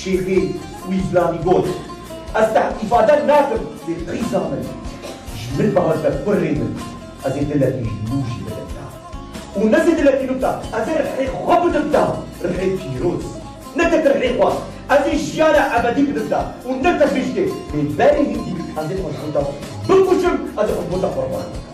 Şêxê Wîflanî got, Ez te îfade nakim lê qîza min ji min bihate kurrê min, ez ê dilekî ji nû jî bidim te. Û ne zê dilekî nû te, ez ê rihê xwe bidim te, rihê pîroz. Ne tek rihê xwe, ez ê jiyana ebedî bidim te û ne te bijdê, lê berê hêdî ez ê xwe ji bo te bikuşim, ez ê xwe ji bo te qurban bikim.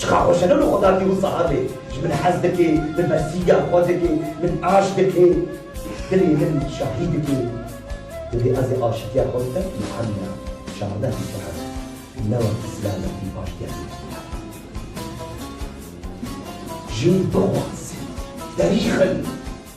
Çiqa xweş e ne wilo xwe da dîhu saxabê ji min hez dike, di bersiya xwe dike, min aşk dike, dilê min şahî dike. Divê ez ê aşikiya xwe bikim Muhemmed, çardeh bîst û heşt, ne wek îslamê ku paştiya wî dikeve. Jin bixwaze, berîxin.